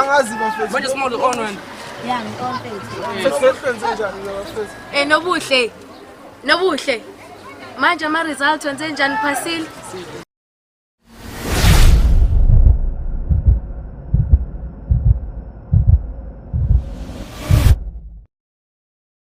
angazi bafethu manje small on wena ya ngikonfethu eh nobuhle nobuhle manje ama results wenze njani phasile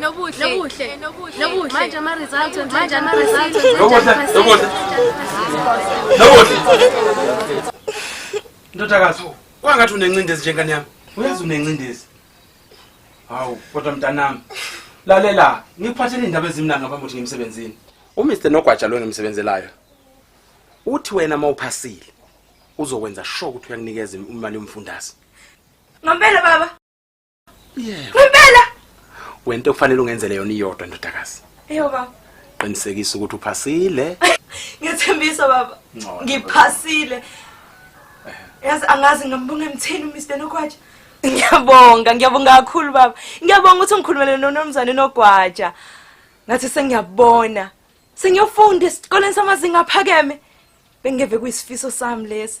Nobuhle. Nobuhle. Nobuhle. Manje ama results manje ama results. Nobuhle. Nobuhle. Nobuhle. Ndodakazi, kwangathi unencindezi njengani yami. Uyazi unencindezi. Hawu, kodwa mntanami. Lalela, ngikuphathele indaba ezimnanga ngaphambi ukuthi ngimsebenzini. UMr Nogwaja lo ngimsebenzelayo. Uthi wena mawuphasile uzokwenza sure ukuthi uyakunikeza imali yomfundazi. Ngempela baba. Yeah. Ngempela wento okufanele ungenzele yona iyodwa ndodakazi. Eyo baba. Qinisekisa ukuthi uphasile. Ngethembisa baba. Ngiphasile. Yazi angazi ngambonga emthini uMr Nokwatsha. Ngiyabonga, ngiyabonga kakhulu baba. Ngiyabonga ukuthi ungikhulumele nonomzane Nokwatsha. Ngathi sengiyabona. Sengiyofunda esikoleni samazinga aphakeme. Bengeve kuyisifiso sami lesi.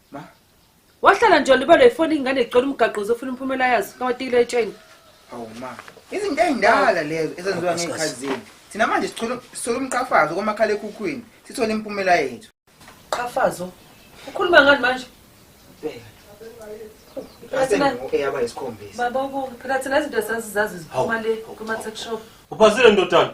Ma. Wahlala nje libalo ifoni ingane icela umgaqo uzofuna umphumela yazo kawatikile etsheni. Hawu ma. Izinto ezindala lezo ezenziwa ngekhazini. Thina manje sithola sithola umqhafazo komakhala ekhukhwini sithole impumela yethu. Qhafazo. Ukhuluma ngani manje? Bheka. Eyaba isikhombisa. Baba ubuke phela thina izinto sasizazi ziphuma le kuma tech shop. Uphasile ndodana.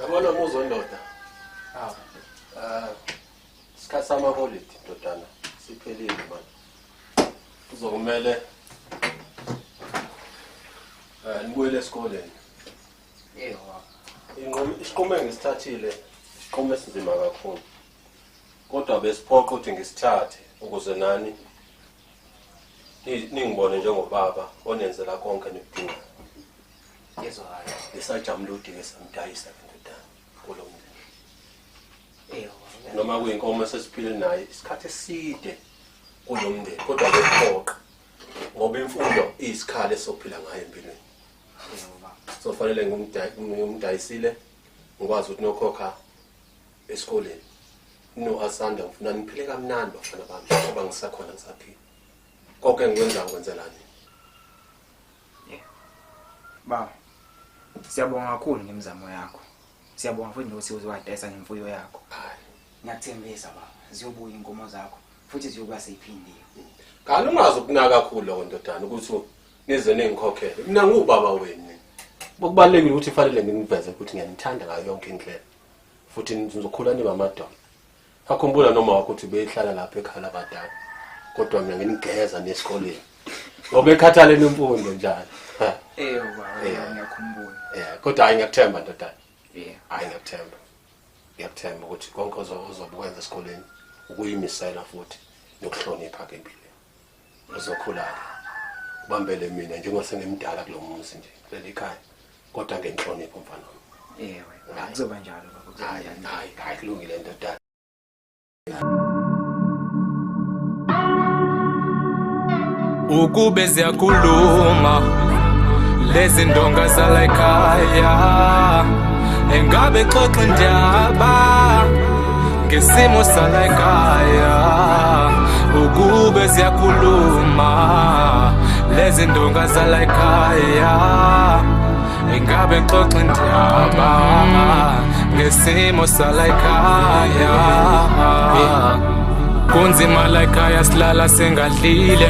Yabona muzo ndoda. Ah. Ah. Sikhatha ama holiday ndodana. Siphelile manje. Kuzokumele eh nibuyele esikoleni. Yebo. Inqomo isiqomo engisithathile isiqomo esinzima kakhulu. Kodwa besiphoqa ukuthi ngisithathe ukuze nani ningibone njengobaba onenzela konke nikudingayo. Ngezwakala. Ngisajamula udinge samdayisa ndodana kulo mndeni. Eyo. Noma kuyinkomo sesiphile naye isikhathi eside kulo mndeni kodwa kuphoqa ngoba imfundo iyisikhala esophila ngayo empilweni. So fanele ngumdayisile ngikwazi ukuthi nokhokha esikoleni. No asanda ngifuna niphile kamnandi bafana bami ngoba ngisakhona ngisaphila. Konke engikwenzayo ngikwenzelani? Baba. Siyabonga kakhulu ngemizamo yakho. Siyabonga futhi nokuthi uzowadayisa ngemfuyo yakho. Ngiyathembisa baba, ziyobuya inkomo zakho futhi ziyokuba seyiphindiwe. Kanti ungazi ukunaka kakhulu lokho ndodana ukuthi nize nengikhokhele. Mina ngubaba wenu. Okubalulekile ukuthi fanele nginiveze ukuthi ngiyanithanda ngayo yonke indlela. Futhi nizokhula nimamadolo. Akhumbula noma wakho ukuthi beyihlala lapha ekhaya labadala. Kodwa mina nginigeza nesikoleni. Ngoba ekhathala nemfundo njalo. Ha. Eh baba Yeah. ngiyakhumbula. Yeah, kodwa hayi ngiyakuthemba ndodana. Yeah. Hayi ngiyakuthemba. Ngiyakuthemba ukuthi konke ozo- ozobukwenza esikoleni ukuyimisela futhi nokuhlonipha ke empilweni. uzokhula-ke ubambele mina njengoba sengimdala kulo muzi nje kuleli khaya kodwa ngenhlonipho mfana wami ewe kuzoba njalo baba hayi hayi hayi kulungile ndodana ukube ziyakhuluma lezi ndonga zala ekhaya engabe xoxa indaba ngesimo salayikhaya ukube siyakhuluma lezi ndonga zalayikhaya ingabe ngixoxe ndaba ngesimo salayikhaya kunzima layikhaya silala singadlile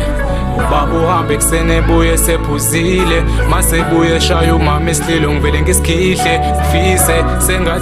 ubaba uhambe ekuseni ebuye sephuzile masebuye shaya umama isililo ngivele ngisikhihle fise sengathi